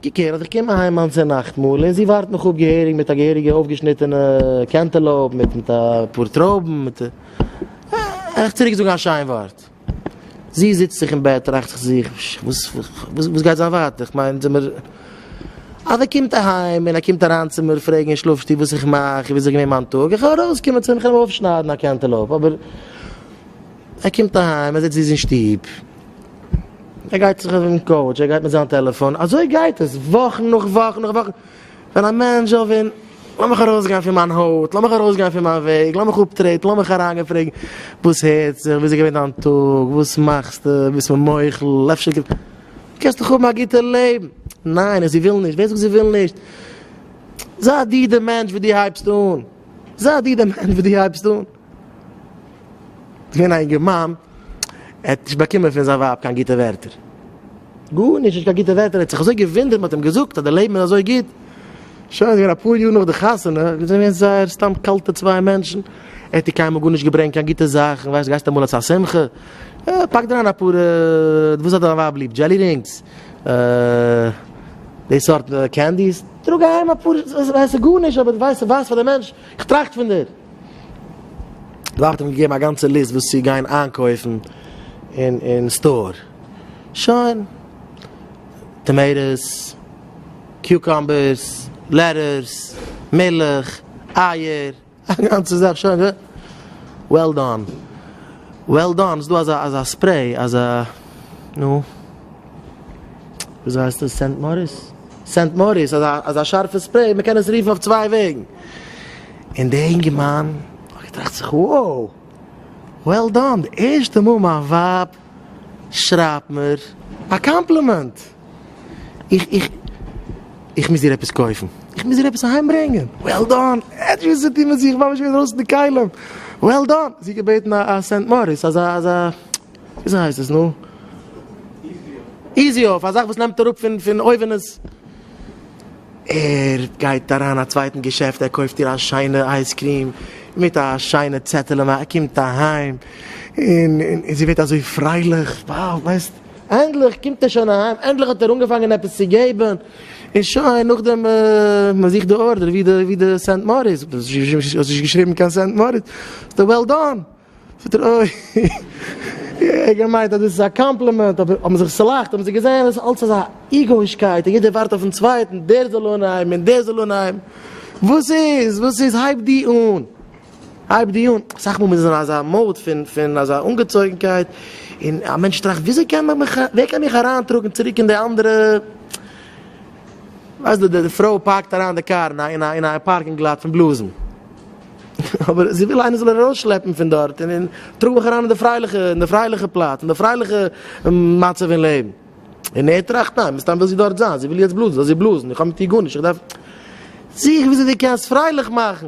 געקערט אז איך קום אהיים היינט צו נאכטמאל און זי ווארט מיך אפ געהעריג מיט א געהעריגע אויפגעשניטענע קענטעלאופ מיט מיט אפאר טרויבן מיט איך צוריק זאגן א שיין ווארט זי זיצט זיך אין בעט טראכט זיך וואס וואס גייט זיין ווייטער כ'מיין זעמער אז ער קומט אהיים און ער קומט אריין צו מיר פרעגן אין שלאף שטוב וואס איך מאך און וויאזוי איז געווען מיין טאג, איך האב ארויס קומען צו אים איך וויל אים אויפשניידן א קענטעלאופ אבער ער קומט אהיים ער זעצט זיס אין שטוב ער גייט זיך אויפן קאוטש ער גייט מיט זיין טעלעפאן אזוי גייט עס וואכן נאך וואכן נאך וואכן ווען א מענטש זאל ווען לאמיך ארויסגיין פון מיין הויט לאמיך ארויסגיין פון מיין וועג לאמיך אפטרעטן לאמיך אריינגיין פרעגן וואס הערט זיך וויאזוי איז געווען דיין טאג וואס מאכסטו ביסט מיר מוחל אפשר. קענסט דאך האבן א גוטע לעבן. ניין זי וויל נישט. ווער זאגט זי וויל נישט? זיי דו די מענטש וואס דו הייבסט אן. זיי דו די מענטש וואס דו הייבסט אן. ס'איז געווען א אינגערמאן, ער האט נישט באקומען פון זיין ווייב קיין גוטע ווערטער. גארנישט, נישט קיין גוטע ווערטער. ער האט זיך אזוי געוואונדערט, מען האט אים געזאגט אז די לעבן איז אזוי גוט. שוין, ס'איז געווען אפאר יאר נאך די חתונה, זיי זענען געווען זייער סתם קאלטע צוויי מענטשן. ער האט איר קיינמאל גארנישט געברענגט קיין גוטע זאכן, ווייסט, גייסט אמאל צו א שמחה, פאק דיר אריין אפאר וואס האט דיין ווייב ליב דזשעלי רינגס די סארט קענדיס טראג אהיים אפאר ס'ווייסט גארנישט אבער ווייסט ס'ווייסט פאר די מענטש איך טראכט פון דיר די ווייב האט אים געגעבן א גאנצע ליסט וואס צו גיין איינקויפן אין אין סטאר שוין טאמעיטאס קיוקאמבערס לעטערס מילך אייער א גאנצע זאך שוין ווער. וועל דאן. וועל דאן. ס'דא אזא אזא ספרעי אזא נו. וויאזוי הייסט עס סענט מאריס? סענט מאריס אזא אזא שארפע ספרעי מ'קען עס רופן אויף צוויי וועגן. און דער אינגערמאן האט געטראכט זיך wow. וועל דאן. די ערשטע מאל מיין ווייב שרייבט מיר א קאמפלימענט. איך איך איך מוז דיר עפעס קויפן, איך מוז דיר עפעס אהיים ברענגען, וועל דאן, עטשעס זעט איר מיר זיך ממש ווי אינדרויסן די כלים, וועל דאן, זי האט געבעטן א א סענט מאריס, אזא אזא וויאזוי הייסט עס נו? איזי אויף, א זאך וואס נעמט אראפ פון פון אויווענעס, ער גייט אריין א צווייטן געשעפט ער קויפט איר א שיינע אייז קרים, מיט א שיינע צעטעלע, מען קומט אהיים, און און זי ווערט אזוי פרייליך, וואו ווייסט. ענדליך קומט ער שוין אהיים, ענדליך האט ער אנגעפאנגען עפעס צו געבן, און שוין נאכדעם מען זוכט די ארדער, ווי די סענט מאריס, זאגט ער, האסט נישט געשריבן קיין סענט מאריס, זאגט ער, וועל דאן, זאגט ער, אוי, איך האב געמיינט אז דאס איז א קאמפלימענט, אבער האבן זיך צולאכט, האבן זיי געזען אז עס איז אלץ אזא איגאו'ישקייט, און יעדער ווארט אויפן צווייטן, דער זאל אנהייבן און דער זאל אנהייבן, וואס איז, וואס איז, הייב דו אן. הייב דיר אן, אסאך מאל מ'איז אין אזא mode פון פון אזא אנגעצויגנקייט, און א מענטש טראכט וויאזוי קען מען מיך, ווער קען מיך אריינטראגן צוריק אין די אנדערע, ווייסט דו, די פרוי פארקט אריין די קאר אין א אין א אין א פארקינג לאט פון בלאזן, אבער זי וויל איינער זאל איר ארויסשלעפן פון דארט, און און טראג מיך אריין אין די פרייליכע אין די פרייליכע פלאץ, אין די פרייליכע מצב אין לעבן. און ער טראכט, ניין, מסתם וויל זי דארט זיין, זי וויל יעצט בלאזן, זאל זי בלאזן, איך האב מיט איר גארנישט, איך דארף זיך וויאזוי דו קענסט פרייליך מאכן.